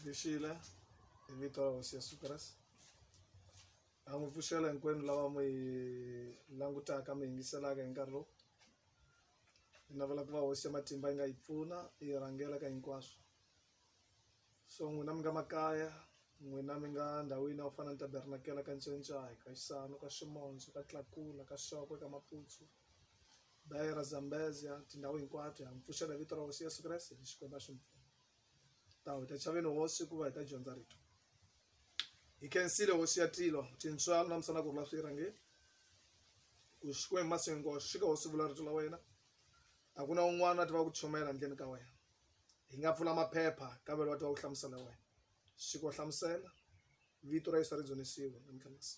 Vishila hi vito ra hosi ya Sucras ha n'wi pfuxela hinkwenu lava mi hi langutaka mi yingiselaka hi nkarhi lowu hi navela ku va hosi ya matimba yi nga yi pfuna yi rhangela ka hinkwaswo so n'wina mi nga makaya n'wina mi nga ndhawini ya ku fana ni tabernakela ka ncencahi ka xisano ka ximondzo ka tlakula ka xoko ka maputsu dayera zambezia tindhawu hinkwato ha mi pfuxela hi vito ra hosi yesu kreste hi xikwembu a xi mi pfuna ta wu ta chaveni hosi hikuva hi ta dyondza rito hi khensile hosi ya tilo tintswalo na misana ku rula swi rhangeni ku xikwembu masengo xika hosi vula rito la wena a ku na un'wana a tiva ku chomela handleni ka wena hi nga pfula maphepha kavelo wa tiva ku hlamusela wena xiko hlamusela vito ra yesu ri dzunisiwe namtlhanisi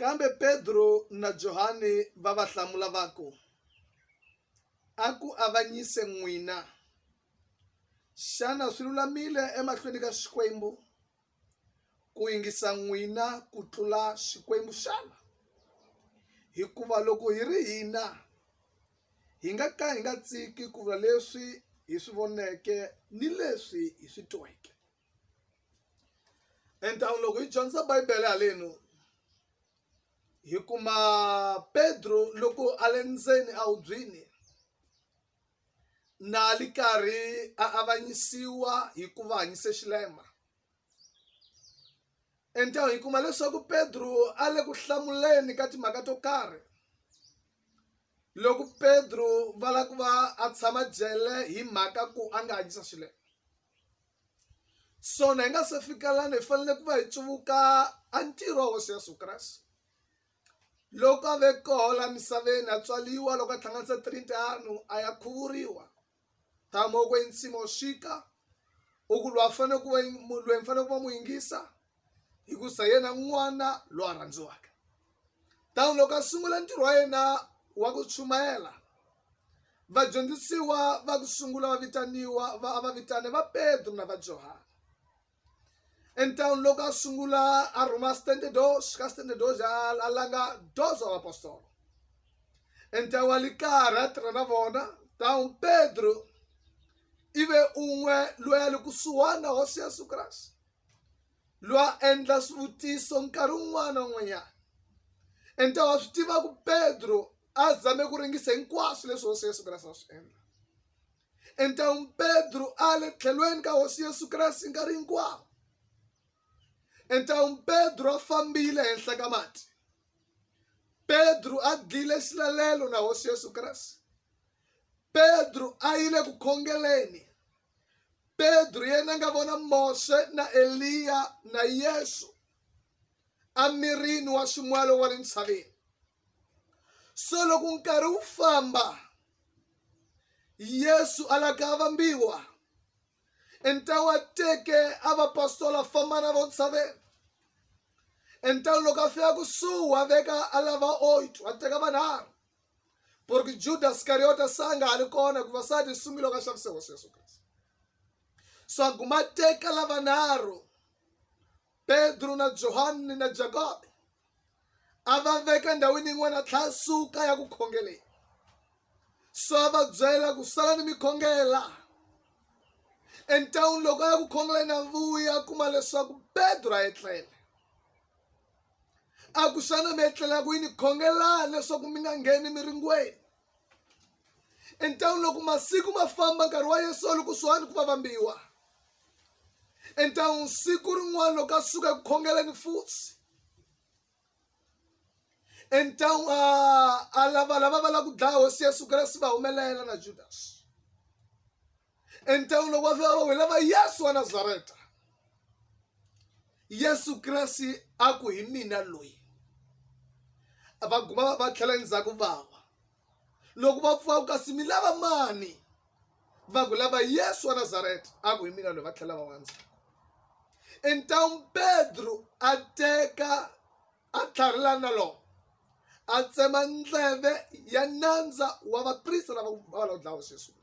Kambe Pedro na Johane va va hlamula va ku, A ku avanyise n'wina! Xana swi lulamile emahlweni ka Xikwembu ku yingisa n'wina ku tlula Xikwembu xana? Hikuva loko hi ri hina, hi nga ka hi nga tshiki ku vula leswi hi swi voneke ni leswi hi swi tweke. endhawu loko hi dyondza bibele haleni hi kuma petro loko a le ndzeni a hubyini na li karhi a avanyisiwa hi ku va hanyise xilema endhawu hi kuma leswaku petro a le ku hlamuleni ka timhaka to karhi loko petro va lava ku va a tshama jele hi mhaka ku a nga hanyisa swilo swona hi nga se fika lana hi fanele ku va hi tsuvuka a ntirho wa hosi yesu kreste loko a ve koho la misaveni a tswaliwa loko a tlhanganisa tirintianu a ya khuvuriwa tama ku ensimu xika u ku lwa fanele ku va lweyi mi fanele ku va mu yingisa hikusa yena n'wana loyi a rhandziwaka tano loko a sungula ntirho wa yena wa ku chumayela vadyondzisiwa va ku sungula va vitaniwa va va vitane va petro na va johana entawuni loko a sungula a rhuma standard dos ka standard dos a langa dos wa vapostolo entawu wa likara tirha na vona tawu pedro ive un'we loyi a le kusuhani na hosi yesu kreste lwa endla swivutiso nkarhi wun'wana na wun'wanyana and ta wa swi tiva ku pedro a zame ku ringisa hinkwaswo leswi hosi yesu kreste a swi endla and tawu pedro a le tlhelweni ka hosi yesu kreste nkarhi hinkwawo and tawu pedro a fambile henhla ka mati pedro a dlile xilalelo na hosi yesu kreste pedro a yile ku khongeleni pedro yena nga vona mose na eliya na yesu amirini wa ximwalo wa le ntshaveni so loko nkarhi wu famba yesu a la ka vambiwa entawa teke a vapostola famba na vo ntshaveni entawu loko a fika kusuhi wa veka a lava oito a teka vanharhu ku ri juda sikariyota sa nga ha ri kona ku vasati sungilo ka xavise hosi yesu kreste swaku ma teka lavanharhu pedro na johani na jakobe a va veka ndhawini yin'wana tlhasuka ya ku khongeleni so a va byela ku sala ni mikhongela entawuni loko a ya ku khongeleni a vuya kuma leswaku pedro a etlele a ku xana mi etlela kwini khongelani leswaku mi nga ngheni miringweni entangwini loko masiku ma famba nkarhi wa yesu loko swani ku va vambiwa entangwini siku rin'wana loko a suka eku khongeleni futhi entangwini a lava lava va lava ku dlaya hosi yesu kreste va humelela na judasi entawulo wa vawe lava yesu wa nazareta yesu kreste a ku hi mina loyi va guma va tlhela endzhaku vawa loko va pfuka ku kasi mi lava mani va ku lava yesu wa nazareta a ku hi mina loyi va tlhela va wandza entawuni pedro a teka a tlharilana na lona a tsema ndleve ya nandza wa vaprista lava va va lava dlawa sweswi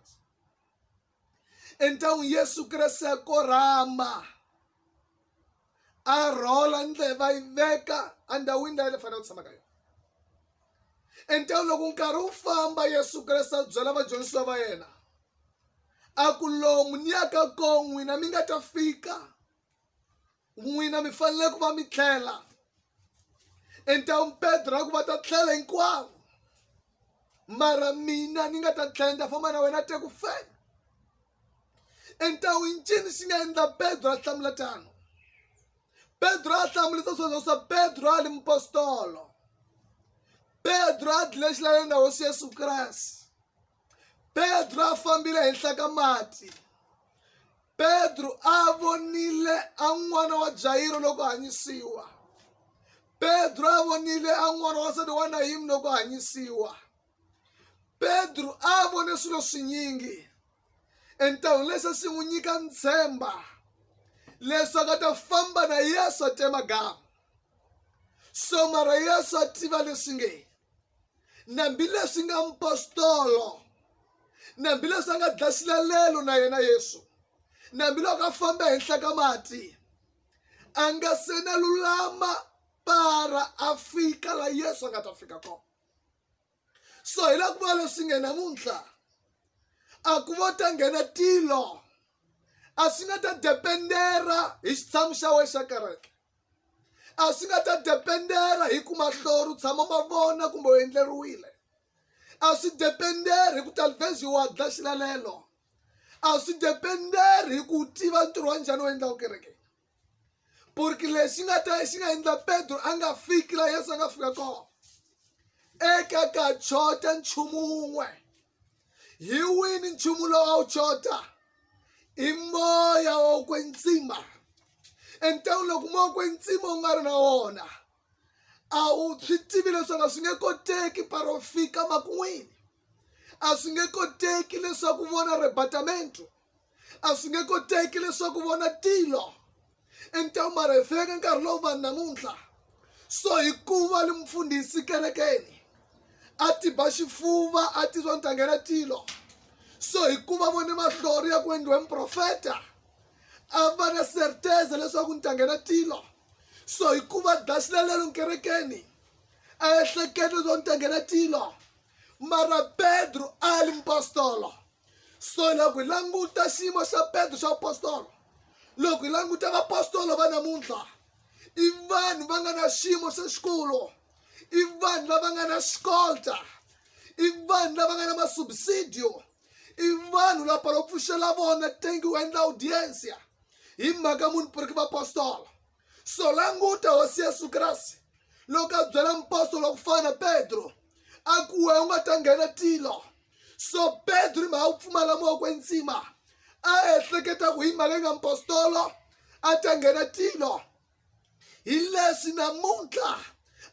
então yesu kreste a korhama a rhola ndlela va yi veka endhawini leyi le fanele ku tshama ka yona então loko nkarhi wu famba yesu kreste a byela vadyondzisiwa va yena a ku lomu ni ya ka kona n'wina mi nga ta fika n'wina mi fanele ku va mi tlhela entawu pedro a ku va ta tlhela hinkwavo mara mina ni nga ta tlhela ni ta famba na wena te ku fela entawu ncini xi nga endla pedro a hlamula tano pedro a hlamulisa sweswo swa pedro a li mupostolo pedro a dlile xilaleni na hosi yesu kreste petro a fambile henhla ka mati petro a vonile a n'wana wa jayiro loko hanyisiwa petro a vonile a n'wana wa nsati wa nayimu loko hanyisiwa petro a vone swilo swinyingi entahwini lexi xi n'wi nyika ntshemba leswaku a ta famba na yesu a tema gama so mara yesu a tiva leswi nge nambileswi nga mpostolo nambileswi a nga dya xilalelo na yena yesu nambiloko a famba henhla ka mati a nga se na lulama para a fika la yesu a nga ta fika kona so hi la ku va leswi nge namuntlha a ku vo ta nghena tilo a swi nga ta dependera hi xitshamo xa wena xa kereke a swi nga ta dependera hi ku mahlori u tshama ma vona kumbe u endleriwile a swi dependeri hi ku talvezi wa dla xilalelo a swi dependeri hi ku tiva ntirho wa njhani u endlaku kereke purki lexi nga ta xi nga endla petro a nga fiki la yesu a nga fika kona eka ka chota nchumu wun'we hi wini nchumu lowa wu chota i moya wa kwetsima entan'wini loko moya wa kwetsima wu nga ri na wona a wu swi tivi leswaku a swi nge koteki parofika makun'wini a swi nge koteki leswaku vona ribatamento a swi nge koteki leswaku vona tilo entewu mara hi fika ka nkarhi lowu vanhu namuntlha so hikuva li mufundhisi kerekeni a ti ba xifuva a ti swa ni ta nghena tilo so hikuva vone mahlori ya ku endliwe muprofeta a va na serteza leswaku ni ta nghena tilo so hikuva daxilalelo nkerekeni a ehleketa leswaku ni ta nghena tilo mara pedro a li mupostolo so loko hi languta xiyimo xa petro xa apostolo loko hi languta vapostolo va namuntlha i vanhu va nga na xiyimo xa xikulu i vanhu lava nga na xikolta i vanhu lava nga na masubsidio i vanhu la palo pfuxela vona tengi u endla audiensia hi mhaka munhu puriki vapostolo so languta hosi yesu kreste loko a byela mpostolo wa ku fana na petro a ku we u nga ta nghena tilo so petro hi mhaka ku pfumala moko enzima a ehleketa ku hi mhaka yi nga mpostolo a ta nghena tilo hi leswi namuntlha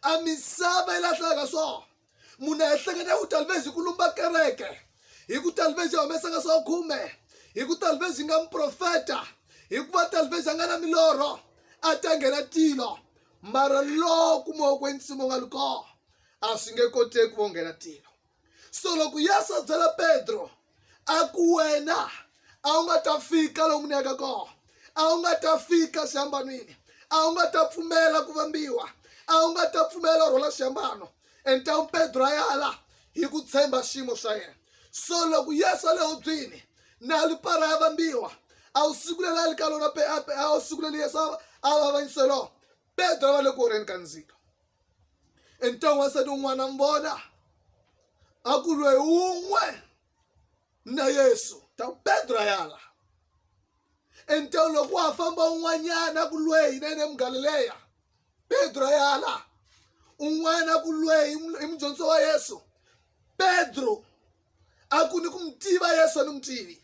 a misava yi lahlaka swona munhu a ehleketa ya ku talivezi hi ku lumba kereke hi ku talivezi ya humesaka swa khume hi ku talivezi nga muprofeta hikuva talivezi a nga na milorho a ta nghena tilo mara loko moya kwensimo nga li kona a swi nge koteki vo nghena tilo so loko yesu a byela petro a ku wena a wu nga ta fika lomu ni yaka kona a wu nga ta fika xihambanwini a wu nga ta pfumela ku vambiwa a wu nga ta pfumela u rhwala xihambano entawu pedro a yala hi ku tshemba xiyimo xa yena so loko yesu a le hubyini na lipara ya vambiwa a wu siku leri a li ka lona a wu siku leri yesu a va avanyise lona pedro a va le ku orheni ka ndzilo ente wansati umwana mbola akulwe umwe na yesu ta pedro ayala ente loko wa famba un'wanyana kulweyi na yena emugalileya pedro ayala un'wana kulweyi i mudyondziso wa yesu pedro a ku ni ku mu tiva yesu a ni mu tivi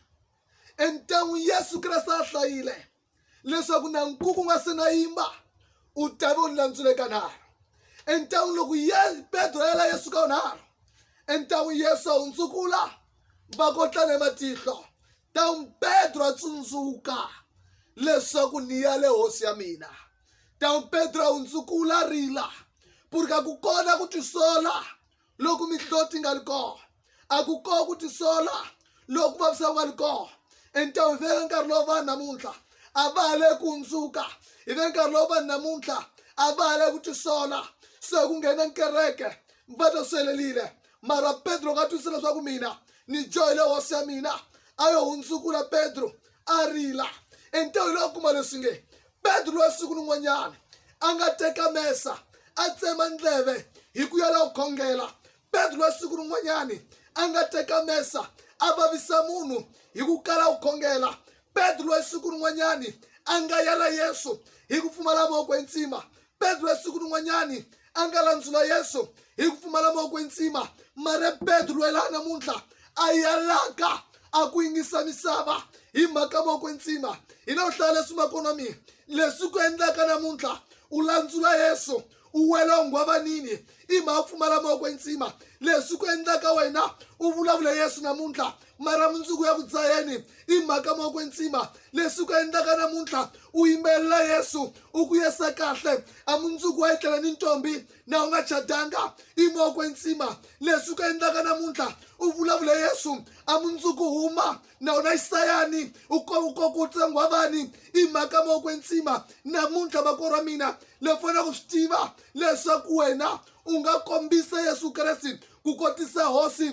entan'wini yesu kreste a hlayile leswaku na nkuku nga se na yimba u tave u ni landzule kanharhu entan'wi loko ye petro yela yesu ka unharhu entan'wi yesu a hundzukula va kotlana ematihlo tan'wi petro a tsundzuka leswaku ni ya le hosi ya mina tan'wi petro a hundzukula rila purika ku kona ku tisola loku mihloti nga li kona a ku kona ku tisola loku vavisa ku nga li kona entan'wini veka nkarhi lowu vanhu namuntlha a va ha le ku hundzuka hi ve nkarhi lowu vanhu namuntlha a va ha le ku tisola se ku nghena kereke va ta swelelile mara petro nga twisisa leswaku mina ni joyile hosi ya mina a yo hundzukula petro a rila entan'wini lowu kuma leswi nge petro loyi siku rin'wanyana a nga teka mesa a tsema ndleve hi ku ya la ku khongela petro loyi siku rin'wanyani a nga teka mesa a vavisa munhu hi ku kala ku khongela petro loyi siku rin'wanyani a nga yela yesu hi ku pfumala moko entsima petro ya siku rin'wanyani a nga landzula yesu hi ku pfumala moko entsima mara petro loyi laha namuntlha a yalaka a ku yingisa misava hi mhaka moko entsima hi na ku hlaya leswi ma kona mina leswi ku endlaka namuntlha u landzula yesu u wela u nghwavanini i mhaka pfumala moko entsima leswi ku endlaka wena u vulavula yesu namuntlha mara mundzuku ya ku dzayeni i mhaka mo kwetsima leswi ku endlaka namuntlha u yimbelela yesu u ku yesa kahle a mundzuku wa etlela ni ntombi na u nga chadanga i mo kwetsima leswi ku endlaka namuntlha u vulavula yesu a mundzuku huma na wona isayani u kokutsengiwa vani i mhaka mo kwetsima namuntlha vako ra mina le fanele ku swi tiva leswaku wena u nga kombisa yesu kreste ku kotisa hosi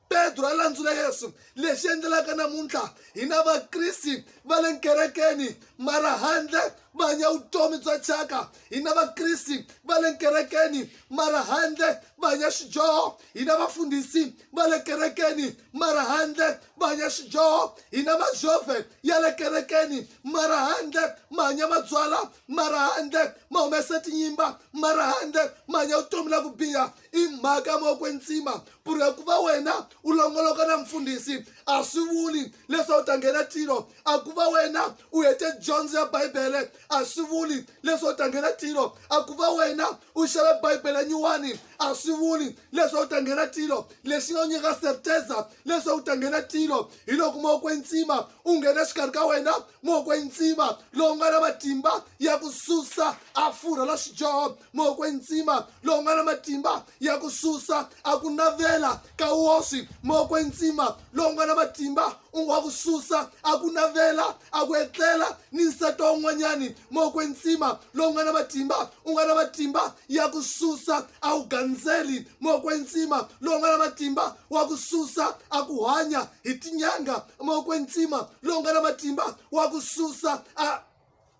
pedro a landzula yesu lexi endlelaka namuntlha hi na vakriste va le nkerekeni mara handle va hanya vutomi bya thyaka hi na vakriste va le nkerekeni mara handle va hanya xidyoho hi na vafundhisi va le kerekeni mara handle va hanya xidyoho hi na majove ya le kerekeni mara handle ma hanya mabyala mara handle ma humesa tinyimba mara handle ma hanya vutomi la ku biha i mhaka mo kwenzima ku ri ku va wena u longoloka na mfundhisi a swi vuli leswaku u ta nghena tilo a ku va wena u hete dyondzo ya bibele a swi vuli leswaku u ta nghena tilo a ku va wena u xave bibele nyuwani a swi vuli leswaku u ta nghena tilo lexi nga u nyika serteza leswaku u ta nghena tilo hi loko mo kwenzima u nghena xikarhi ka wena mo kwenzima lowu nga na matimba ya ku susa a furha la xidyoho mokwe ntsima lowu nga na matimba ya ku susa a ku navela ka woswi mokwe ntsima lowu nga na matimba wa ku susa a ku navela a ku etlela ni nsati wa un'wanyani mokwe ntsima lowu nga na matimba u nga na matimba ya ku susa a wu gandzeli mokwe ntsima lowu nga na matimba wa ku susa a ku hanya hi tinyanga mokwe ntsima lowu nga na matimba wa ku susa a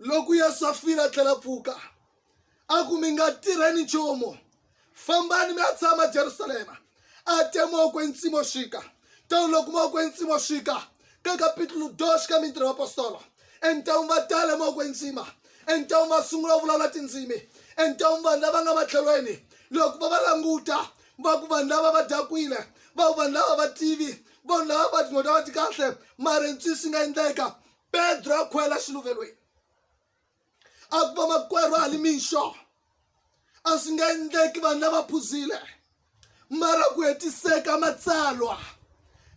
loko ya safira tlela pfuka a ku mi nga tirheni nchumu fambani mi ya tshama jerusalema a te moko entsimo xika tano loko moko entsimo xika ka kapitulo 2 ka mintirho apostolo entawuni va tale moko entsima entawuni va sungula vulavula tindzimi entawuni vanhu lava nga matlhelweni loko va va languta va ku vanhu lava va dakwile va ku vanhu lava va tivi vanhu lava va tin'weta va ti kahle mara ntswisi nga endleka pedro a khwela xiluvelweni a ku va makwerhu a li mixo a swi nga endleki vanhu lava phuzile mara ku hetiseka matsalwa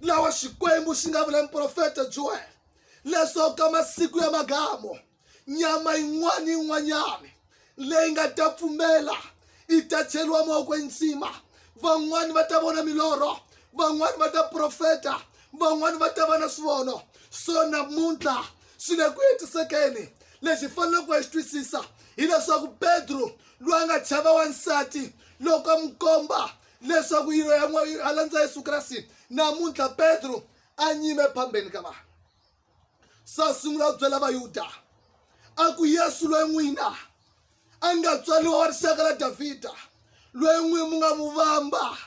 lawa xikwembu xi nga vula muprofeta joel leswaku ka masiku ya magamo nyama yin'wana yin'wanyana leyi nga ta pfumela yi ta cheriwa mavokweni nsima van'wani va ta vona milorho van'wani va ta profeta van'wani va ta va na swivono so namuntlha swi le ku hetisekeni lexi faneleke ku ya xi twisisa hileswaku petro loyi a nga chava wansati loko a n'wi komba leswaku yilo ya a landza yesu kreste namuntlha petro a nyime phambeni ka vanhu se a sungula ku byela vayuda a ku yesu loyi n'wina a nga tswaliwa wa rixaka ra davhida loyi n'wini mu nga mu vamba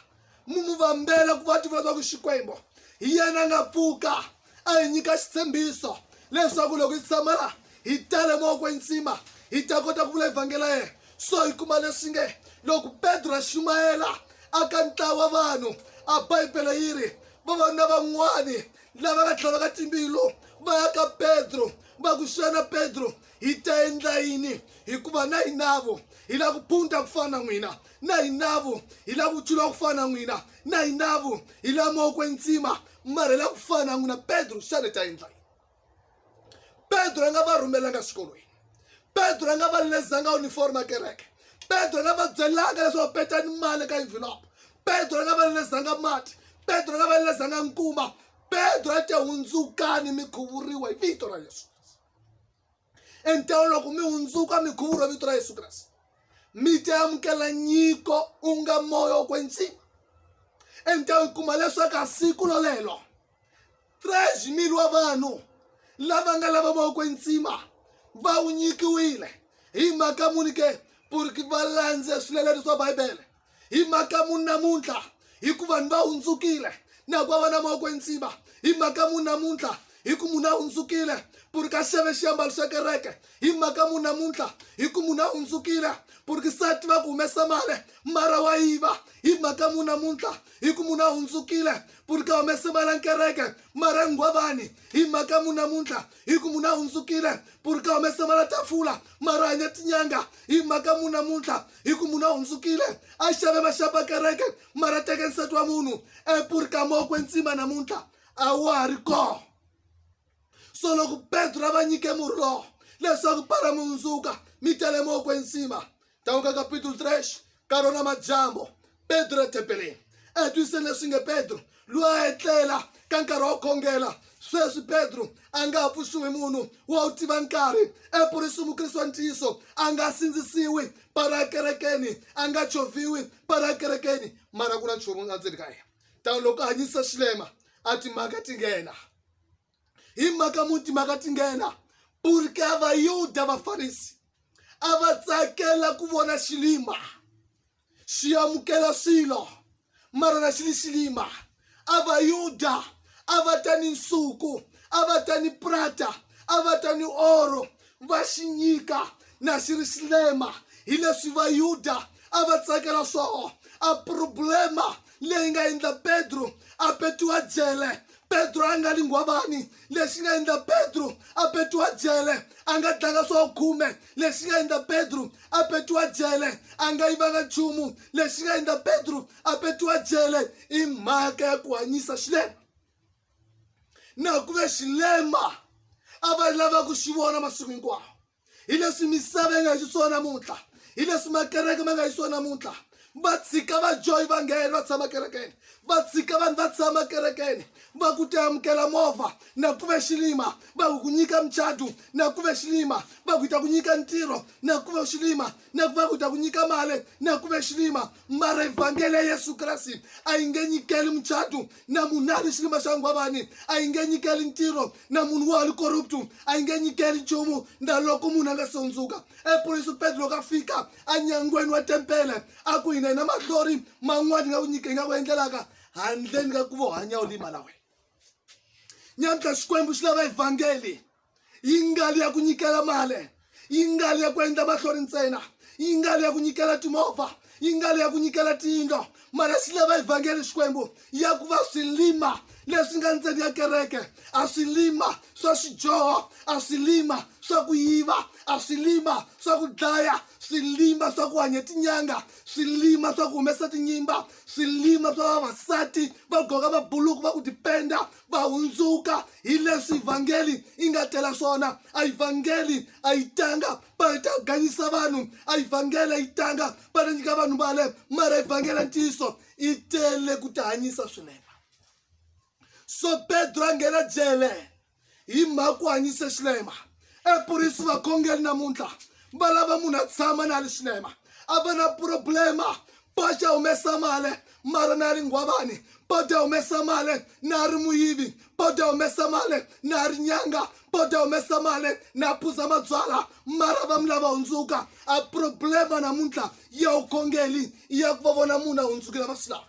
mu mu vambela ku va tiva leswaku xikwembu hi yena a nga pfuka a hi nyika xitshembiso leswaku loko hi tshama la hi tale mavokweni ntsima hi ta kota ku vula evhangeli ya yena so hi kuma leswi nge loko petro a xumayela aka ntlawa vanhu a bibele yi ri vavanuna van'wani lava nga tlhela va ka timbilo va ya ka petro va ku xana petro hi ta endla yini hikuva na hinavo hi lava ku phunta ku fana na n'wina na hinavo hi lava ku tshula ku fana na n'wina na hinavo hi lava mawoko entsima mara hi lava ku fana na n'wina petro xana hi ta endla yini pedro a nga va rhumelanga swikolweni pedro a nga va lezanga uniform a kereke pedro a nga va byelanga leswaku petani mali ka envelope pedro a nga va lezanga mati pedro a nga va lezanga nkuma pedro a te hundzukani mi khuvuriwa hi vito ra yesu entewo loko mi hundzuka mi khuvuriwa vito ra yesu kreste mi te amukela nyiko u nga moya wo kwetsima entewo yi kuma leswaku a siku lolelo 13 mil wa vanhu lava nga lava va ku ntsima va wu nyikiwile hi mhaka muni ke purki va landze swilelelo swa bibele hi mhaka muni namuntlha hi ku vanhu va hundzukile na ku va na mavoko ntsima hi mhaka muni namuntlha hi ku munhu a hundzukile purki a xave xiambalo xa kereke hi mhaka muni namuntlha hi ku munhu a hundzukile purki sati va ku humesa mali mara wa yiva hi mhaka muni namuntlha hi ku munhu a hundzukile puni ka humese mala kereke mara nghwavani hi mhaka munhu namuntlha hi ku munhu a hundzukile puni ka humese mala tafula mara hanya tinyanga hi mhaka munhu namuntlha hi ku munhu a hundzukile a xave maxapa kereke mara teke nsati wa munhu epuri ka mokwe ntsima namuntlha a wa ha ri kona so loko petro a va nyike murhi lowo leswaku para mundzuka mi tele mo kwensima tawuka kapitulo 3 ka rona madyambo petro ethempeleni etwiseni leswi nge petro loyi a etlela ka nkarhi wa ku khongela sweswi petro a nga ha pfuxiwi munhu wa wu tiva nkarhi epurisi mukrisi wa ntiyiso a nga sindzisiwi para kerekeni a nga choviwi para kerekeni mara ku na nchumu endzeni ka yena tano loko a hanyisa xilema a timhaka ti nghena hi mhaka muti mhaka ti nghena purke a vayuda vafarisi a va tsakela ku vona xilima xi amukela swilo mara na xi li xilima a vayuda a va ta ni nsuku a va ta ni prata a va ta ni oro va xi nyika na xi ri xilema hileswi Vayuda a va tsakela swoho. A problema leyi nga endla Pedro a petiwa jele. Pedro a nga li nghwavani, lexi nga endla Pedro a petiwa jele. A nga dlanga swoho khume, lexi nga endla Pedro a petiwa jele. A nga yivanga nchumu, lexi nga endla Pedro a petiwa jele i mhaka ya ku hanyisa xilema. na ku ve xilema a va lava ku xi vona masiku hinkwawo hi leswi misava yi nga xiswona namuntlha hi leswi makereke ma nga xiswona namuntlha va tshika vajoyi va nghena va tshama kerekeni va tshika vanhu va tshama kerekeni va ku ti amukela movha na ku ve xilima va ku ku nyika muchadu na ku ve xilima va ku ta ku nyika ntirho na ku ve xilima na ku va ku ta ku nyika mali na ku ve xilima mara evhangeli ya yesu kreste a yi nge nyikeli muchato na munhu a ri xilima xa nghwavani a yi nge nyikeli ntirho na munhu wa ri corruptu a yi nge nyikeli nchumu na loko munhu a nga sondzuka epolisi petro loko a fika enyangweni wa tempele a ku hina hina mahlori man'wani hi nga ku nyika hi nga ku endlelaka handleni ka ku vo hanya u lima na wena nyamutlha xikwembu xi lava evhangeli yi nga ri ya ku nyikela mali yi nga ri ya ku endla mahlori ntsena yi nga ri ya ku nyikela timovha yi nga ri ya ku nyikela tiyindlo mara swi lava evhangeli xikwembu ya ku va swilima leswi nga ntseni ya kereke a swilima swa swidyoho a swilima swa ku yiva a swilima swa ku dlaya swilima swa ku hanya tinyanga swilima swa ku humesa tinyimba swilima swa vavasati va goka mabuluku va ku dipenda va hundzuka hi leswi vhangeli yi nga tela swona a yi vhangeli a yi tanga va ta ganyisa vanhu a yi vhangeli a yi tanga va ta nyika vanhu vale mara yi vhangela ntiyiso yi tele ku ta hanyisa swinene so pedro a nghena jele hi mhaka ku hanyise xilema epurisi vakhongeli namuntlha va lava munhu a tshama na li swinema a va na problema paxa humesa mali mara na ri nghwavani pota humesa mali na ri muyivi pota humesa mali na ri nyanga pota humesa mali na phuza mabyala mara va mi lava hundzuka a problema namuntlha ya vukhongeli i ya ku va vona munhu a hundzukile va swi lava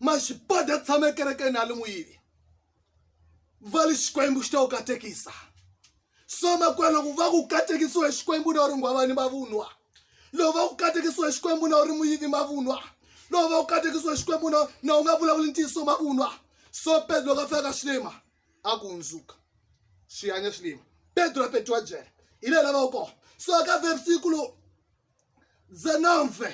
maxipota tshama ekerekeni na li muyivi va li xikwembu xi ta wu katekisa so makwenu loko va ku katekisiwa hi xikwembu na u ri nghwavani mavunwa loko va ku katekisiwa hi xikwembu na u ri muyivi mavunwa loko va ku katekisiwa hi xikwembu na na u nga vulavuli ntiyiso mavunwa so pedro loko a fika ka xilima a ku hundzuka swi hanya xilima pedro pedro wa byela hi leyi lavaka kona so ka versikulu dzenove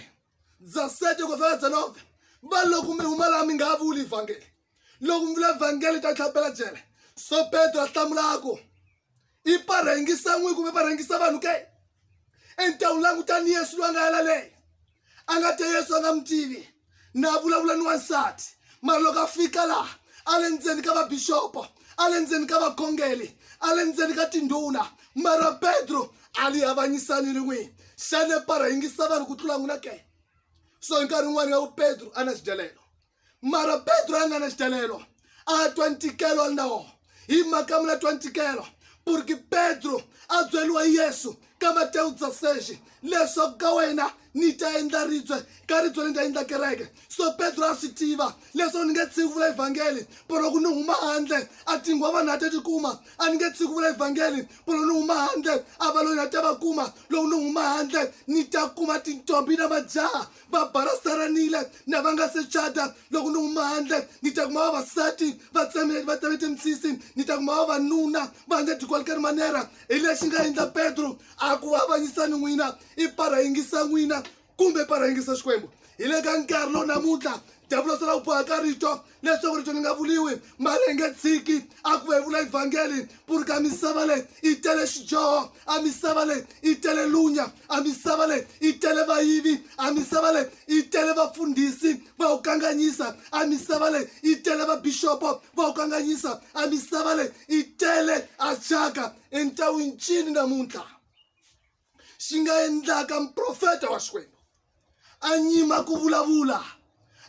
dza sete ku fika dzenove va loko mi huma laha mi nga vuli vhangeli loko mi vula vhangeli ka tlhapela jele so petro a hlamulako i parhengisa n'wi kumbe parhengisa vanhu ke entawuni langutani yesu loyi a nga yela leyi a nga te yesu a nga mi tivi na vulavula ni wansati mara loko a fika laha a le ndzeni ka vabixopo a le ndzeni ka vakhongeli a le ndzeni ka tindhuna mara petro a li avanyisani ni n'wini xana parhengisa vanhu ku tlula n'wina ke so hi nkarhi wun'wani nga ku petro a na xidelelo mara petro a nga na xitalelo a twa ntikelo a ndawo hi mhaka mula twa ntikelo purki petro a byeriwa yesu ka matewu dzaseji leswaku ka wena ni ta endla ribye ka ribye ni ta endla kereke so petro a swi tiva leswaku ni nge tshiki vula evhangeli polo ku ni huma handle a tinghwa vanhu a ta ti kuma a ni nge tshiki vula evhangeli polo ni huma handle a valoni a ta va kuma loko ni huma handle ni ta kuma tintombi na majaha va balasaranile na va nga se cata loko ni huma handle ni ta kuma vavasati va tsemele va tseme timisisi ni ta kuma vavanuna va nga tikwalkani manera hi lexi nga endla petro a ku avanyisani n'wina i para yingisa n'wina kumbe para yingisa xikwembu hi le ka nkarhi lowu namuntlha dyavula swi la ku bohaka rito leswaku rito ri nga vuliwi mara hi nge tshiki a ku va hi vula evhangeli ku ri ka misava leyi yi tele xidyoho a misava leyi yi tele lunya a misava leyi yi tele vayivi a misava leyi yi tele vafundhisi va wu kanganyisa a misava leyi yi tele vabixopo va wu kanganyisa a misava leyi yi tele a thyaka entawini cini namuntlha xi nga endlaka muprofeta wa xikwembu a nyima ku vulavula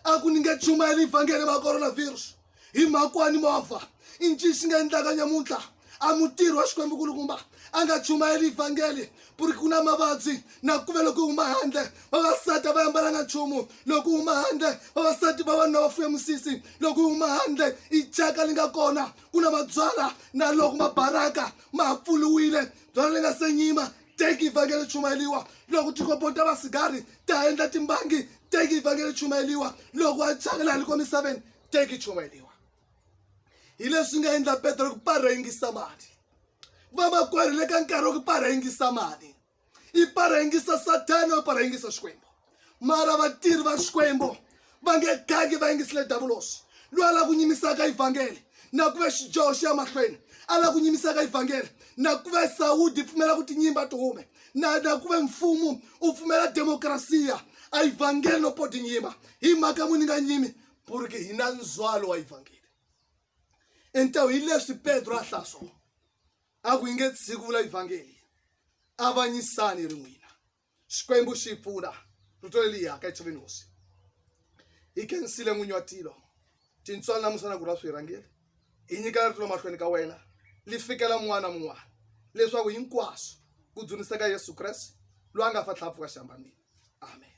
a ku ni nge chumayeli vhangele va coronavirus hi mhakwani movha i nci xi nga endlaka nyamuntlha a mutirhi wa xikwembu kulukumba a nga chumayeli vhangeli ku ri ku na mavabyi na ku ve loko huma handle vavasati a va yambalanga nchumu loko huma handle vavasati vavanuna va fuye musisi loko huma handle i chaka li nga kona ku na mabyala na loko mabaraka ma pfuluwile Tona ri nga se nyima teki ivhangele ri chumayeliwa loko tikopo ta vasigari ta endla timbangi teki ivhangele ri chumayeliwa loko a thyaka laha liko misaveni teki chumayeliwa hi leswi nga endla petro ku para yingisa mali vamakwerhu le ka nkarhi wa ku para yingisa mali i para yingisa sathana u para yingisa xikwembu mara vatirhi va xikwembu va nge gangi va yingisile davulosi loyi a lava ku nyimisaka ivhangeli na ku ve xidyoho xi ya mahlweni a lava ku nyimisaka ivhangeli na ku ve sawudi yi pfumela ku tinyimba ti hume na na ku ve mfumo u pfumela demokrasiya a ivhangeli no po tinyimba hi mhaka muni nga nyimi puriki hi na ndzwalo wa ivhangeli entawu hi leswi petro a hlaswo a ku yi nge tshiki vula ivhangeli avanyisani ri n'wina xikwembu xi pfuna rito leliya ka etshaveni hosi hi khensile n'winyi wa tilo tintswalo namusa na ku ra swirhangeli hi nyikela rito mahlweni ka wena li fikela mun'wana na mun'wana leswaku hinkwaswo ku dzuniseka yesu kreste loyi a nga fa tlhapfuka xihambamini amen